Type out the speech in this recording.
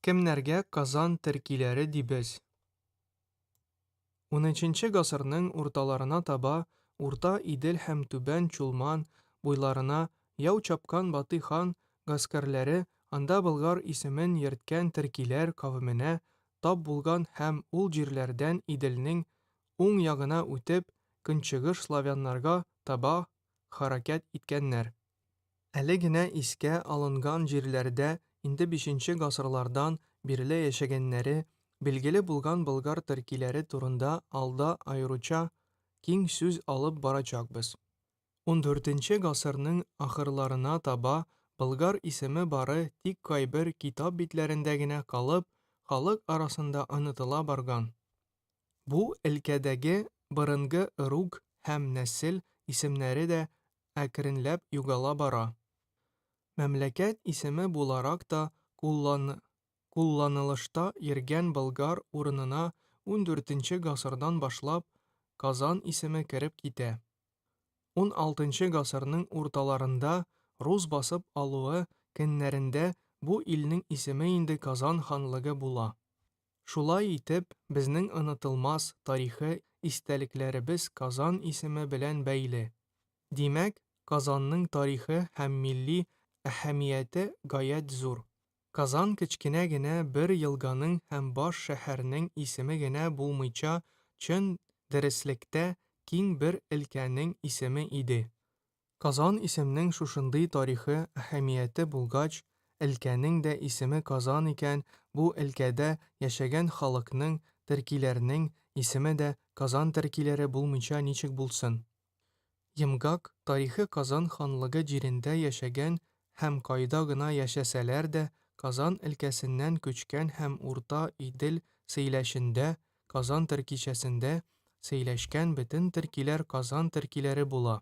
Кемнәргә Казан теркиләре дибез? Унөченче гасырның урталарына таба Урта Идел һәм Түбән Чулман буйларына яу чапкан Батый хан гаскәрләре анда Болгар исемен йөрткән теркиләр кавеменә тап булган һәм ул җирләрдән Иделнең уң ягына үтеп, көнчыгыш славяннарга таба хәрәкәт иткәннәр. Әле генә искә алынган җирләрдә инде бишенче гасырлардан бирле яшәгәннәре билгеле булган болгар төркиләре турында алда аеруча киң сүз алып барачакбыз. Ундүртенче гасырның ахырларына таба Болгар исеме бары тик кайбер китап битләрендә генә калып, халык арасында онытыла барган. Бу өлкәдәге борынгы ыруг һәм нәсел исемнәре дә әкренләп югала бара. Мәмләкәт исеме буларак та куллан кулланылышта йөргән Болгар урынына ундүртенче гасырдан башлап Казан исеме кереп китә. Уналтынчы гасырның урталарында рус басып алуы көннәрендә бу илнең исеме инде Казан ханлыгы була. Шулай итеп, безнең онытылмас тарихи истәлекләребез Казан исеме белән бәйле. Димәк, Казанның тарихы һәм милли әһәмияте гаять зур. Казан кечкенә генә бер елганың һәм баш шәһәрнең исеме генә булмыйча, чын дөреслектә, киң бер өлкәнең исеме иде. Казан исемнең шушындый тарихи әһәмияте булгач, өлкәнең дә исеме Казан икән, бу өлкәдә яшәгән халыкның, төркиләрнең, исеме дә Казан төркиләре булмыйча ничек булсын? Йомгак тарихы Казан ханлыгы җирендә яшәгән һәм кайда гына яшәсәләр дә, Казан өлкәсеннән күчкән һәм Урта Идел Сәйләшендә, Казан төркичәсендә, сөйләшкән бөтен төркиләр Казан төркиләре була.